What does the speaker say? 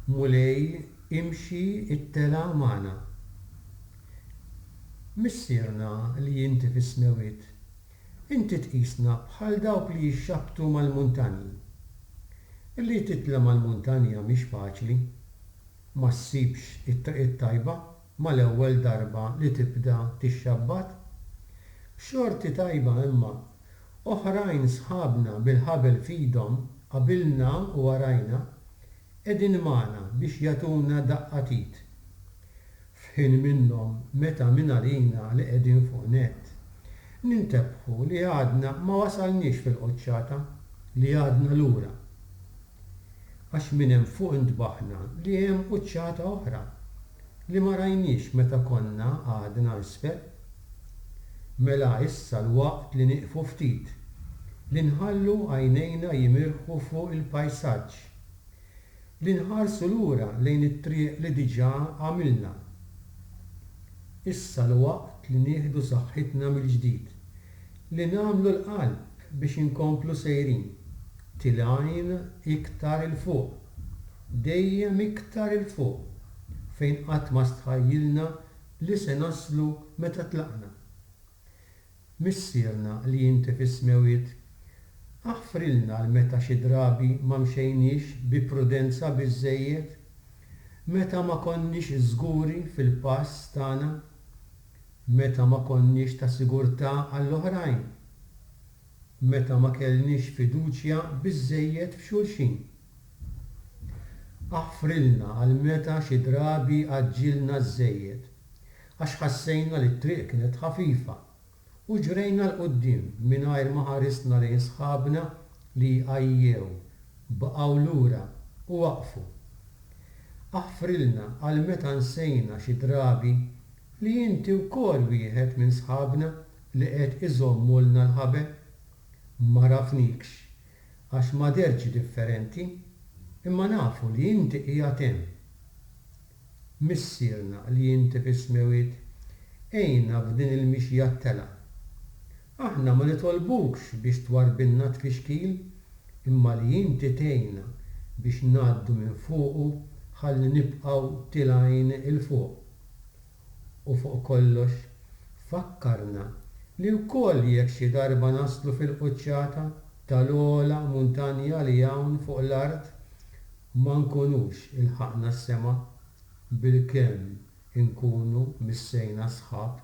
Mulej, imxi t-telgħa magħna. Missierna li inti fis-Smewwiet, inti tqisna bħal dawk li jixxaħbtu mal-muntanji. Li titla' mal-muntanja mhix faċli. Ma ssibx it-triq it-tajba. mal-ewwel darba li tibda tixxabbat? B'xorti tajba imma, oħrajn sħabna bil-ħabel f'idhom qabilna u warajna qegħdin magħna biex jagħtuna daqqa t'id. F'ħin minnhom meta mingħalina li qegħdin fuq nett, nintebħu li għadna ma wasalniex fil-quċċata, li għadna lura. Għax minn hemm fuq intbaħna li hemm quċċata oħra li ma rajniex meta konna għadna isfel. Mela issa l-waqt li nieqfu ftit, li nħallu għajnejna jimirħu fuq il-pajsaġġ, li nħarsu lura lejn it-triq li diġà għamilna. Issa l-waqt li nieħdu saħħitna mill-ġdid, Li nagħmlu l-qalb biex inkomplu sejrin, tilgħin iktar 'il fuq, dejjem iktar 'il fuq, fejn qatt ma stħajjilna li se naslu meta tlaqna. Missierna li inti fis-smewwiet, aħfrilna l meta xi drabi ma mxejniex bi prudenza biżżejjed, meta ma konniex żguri fil-pass tagħna. Meta ma konniex ta' sigurtà għall-oħrajn. Meta ma kellniex fiduċja biżżejjed f'xulxin. Aħfrilna għal meta xi drabi għaġġilna żżejjed għax ħassejna li t-triq kienet ħafifa u ġrejna 'l quddiem mingħajr ma ħarisna lejn sħabna li għajjew, baqgħu lura u waqfu. Aħfrilna għal meta nsejna xi drabi li inti wkoll wieħed minn sħabna li qed iżommulna l-ħabel? M'għarafnikx għax ma dhertx differenti, imma nafu li inti qiegħed hemm. Missierna li inti fis-Smewwiet, għinna f'din il-mixja t-telgħa. Aħna ma nitolbukx biex twarrbilna t-tfixkil, imma li inti tgħinna biex ngħaddu minn fuqu ħalli nibqgħu tilgħin 'il fuq. U fuq kollox, fakkarna li wkoll jekk xi darba naslu fil-quċċata tal-ogħla muntanja li hawn fuq l-art, ma nkunux ilħaqna s-sema, bilkemm inkunu missejna sħab.